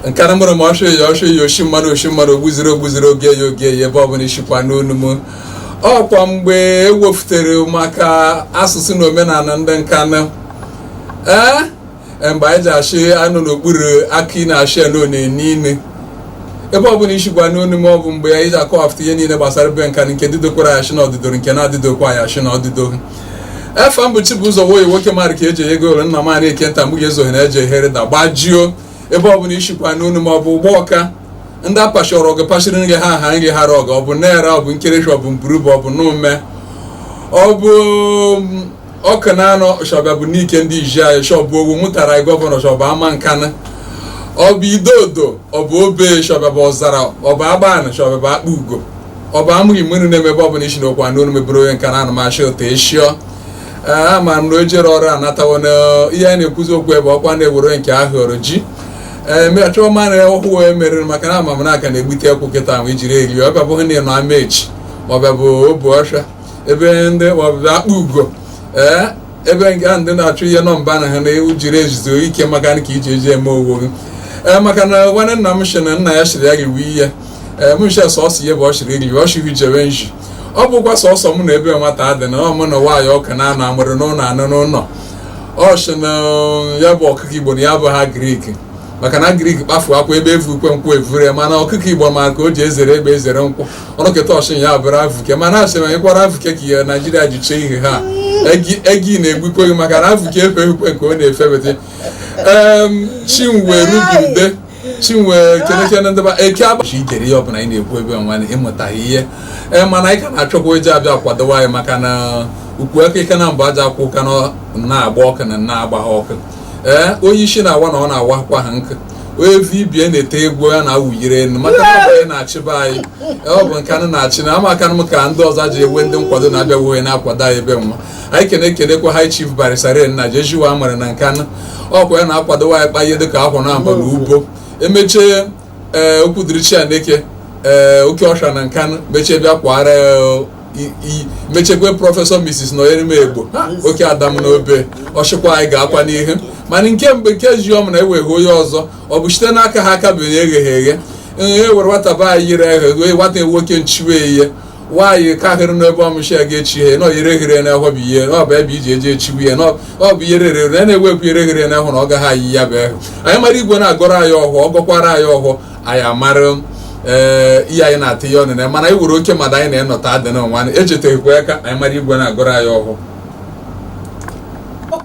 Nkanụ mụrụ m ọsọ ya ọsọ ya oshi mmadụ oshi mmadụ ogbuziri ogbuziri oge ya oge ya ebe ọbụla ishikwa anụ onu m ọkwa mgbe ewefutere maka asụsụ na omenala ndị Nkanụ ee mgbe anyị ji achị anụ n'okpuru akị na-achị elu na-enye inu ebe ọ bụla ishikwa anụ onu m ọ bụ mgbe anyị ji akọwapụta ihe niile gbasara be nka nke didokwara ya shi na ọdịdo nke na-adịdokwa ya shi na ọdịdo efa m bụ Chibụzọ Nwoye nwoke mara ka eji ego ole nna m anyị eke nta mgbe ezoghị na eji ehere da gbajio ebe ọ bụla ishikwa anụ onu m ọ bụ Ugbawka ndị apachọrọ ọgụ pachiri nri ha ha nri ha rọgụ ọ bụ Nara ọ bụ Nkerefi ọ bụ Mburubu ọ bụ Nomeh ọ bụ Awkunanaw shọba bụ Nike ndị iji anyị shọbụ Owo mụtara anyị gọvanọ shọba Amankanụ ọ bụ Idodo ọ bụ Obe shọba bụ Ọzara ọ bụ Agbani shọba bụ Akpugo ọ bụ Amurri mmiri na-eme ebe ọbụla ishikwa anụ olu m ebere onye Nkanụ anụmachị ụtọ eshio ama m na o jere ọrụ anatawo na ihe anyị na-ekwuzi okwu ebe ọkwa na-ewere nke ahụ ọrụ ji emechọọ ma na ọhụụ wee merere maka na ama m na aka na-egbute ekwu kịta ma ijiri eri ọbịa bụghị na ịnọ Amechi ọbịa bụ Obuoffia ebe ndị maọbụ Akpugo ee ebe nke ahụ ndị na-achụ ihe nọ mba na ha na ewu jiri ejizo ike maka ka iji eji eme owo gị ee maka na nwanne nna m shi na nna ya shiri ya riwe ihe ee m nshi sọsọ ihe bụ ọ shiri riwe ọ shiri jebe nji ọ bụkwa sọsọ mụ na ebe nwata dị na ọ mụ na nwaanyị Awkunanaw mụrụ n'ụlọ anụ n'ụlọ ọ shi na ya bụ ọkụkọ igbo na ya abụha agrik maka na agrik kpafu akwa egbe evu ukwe nkwọ evure mana ọkụkọ igbo ma ka o ji ezere egbe ezere nkwọ ọ nọketa ọ shi na ya bụrụ avuke mana asị ma ịkwara avuke ka ihe naijiria ji chee ihe ha egi na-egbukwe gị maka na avuke efe ekwe nke ọ na-efebete chinwe rubide chinwe kenekene ndịba eke abachi ikere ihe ọbụla anyị na-ekwu ebe nwa ịmụtaghị ihe ee mana anyị ka na-achọkwa eji abịa kwadowa anyị maka na ukwu aka ike na mbụ aja akwụ ka na-agba ọkụ na na-agba ọkụ ee eh, onye isi na-awa na ọ na-awakwa ha nkụ onye vibie na-ete egwu ya na-awụyiri enu maka na ọ bụ anyị na-achị ba anyị eh, ọ bụ Nkanụ na-achị na ama Nkanụ ka ndị ọzọ ji ewe ndị nkwado na-abịa wuhe na-akwado anyị ebe nwa anyị kene ekenekwa High Chief Barrister Ray Nnaji ejiwa mara na Nkanụ ọkwa ya na-akwadowa anyị kpa ihe dịka akwa na aba na ubo emechie ee eh, okwu dịrị chi ya n'eke ee eh, oke ọsha na Nkanụ mechie bịa kwara eh, mechekwe prọfesọ Mrs. Nọnyerem Egbo oke ada m n'Obe ọ shikwa anyị gaakwa n'ihu mana nke mgbe nke ji ọm na enweghe onye ọzọ ọ bụ shite n'aka ha aka bụ egheghị eghe e were nwata be anyị yiri eghe nwata nwoke nchiwe ihe nwaanyị ka hịrị n'ebe ọmụchi ya ga-echi ihe na oyere ghere n'ehwe bụ ihe na ọ bụ ebe eji eji echiwe ya na ọ bụ ihe rere na na-ewepụ ire ghere n'ehwe na ọ gaghị eyi ya bụ ehwe anyị mara igwe na-agọrọ anyị ọhọ ọ gọkwara anyị ọhọ anyị amara ee ihe anyị na-atụ ya ọnụ na mana anyị were oke mmadụ anyị na-enọta adị na nwa echeteghịkwa ya ka anyị mara igwe na-agọrọ anyị ọhọ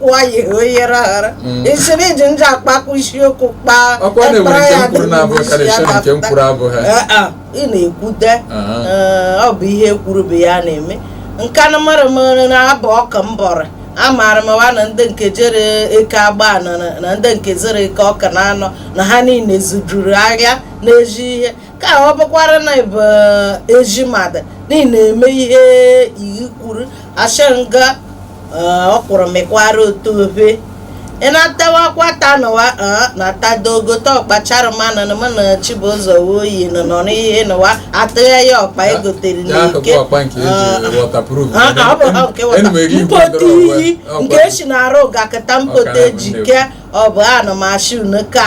wayi oyere aghara isiri iji nje akpakọ isiokwu kpaa ọkwa na e nwere nke m kwuru na-abụghị karịsịa na nke m kwuru abụghị ị na-ekwute ọ bụ ihe e kwuru bụ ya na-eme nkanụ mara mma na-abụ ọka mbọrọ amaara m wa na ndị nke jere eke agbanị na ndị nke zere eke ọkụnanọ na ha niile zụjuru ahịa n'ezi ihe ka ọ bụkwara na-abụ ezi mmadụ niile na-eme ihe iyi kwuru asha nga o kwuru mekwara otu obe ị na-atawakwa taa nụwa na-ata dogo ta ọkpa chairman na mụ na chibụzọ nwoye nọ n'ihe nụwa atụghe ya ọkpa egotere n'eke mpote iyi nke esi na-arụ gakịta mpote ji kee ọ bụ ana m asị unu ka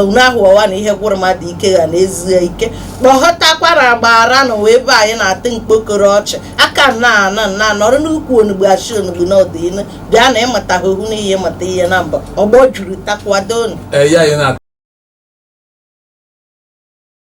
unu ahụ ọwa na ihe gwụrụ mmadụ ike ga na-ezu ike kpọghọtakwara agbara n'ụwa ebe anyị na-atụ mkpokoro ọchị aka nna ana nna nọrọ n'ukwu onugbu achị onugbu n'ọdịnihu bịa na ịmụta ha ohu n'ihe mụta ihe na mbọ ọgbọ juru takwado unu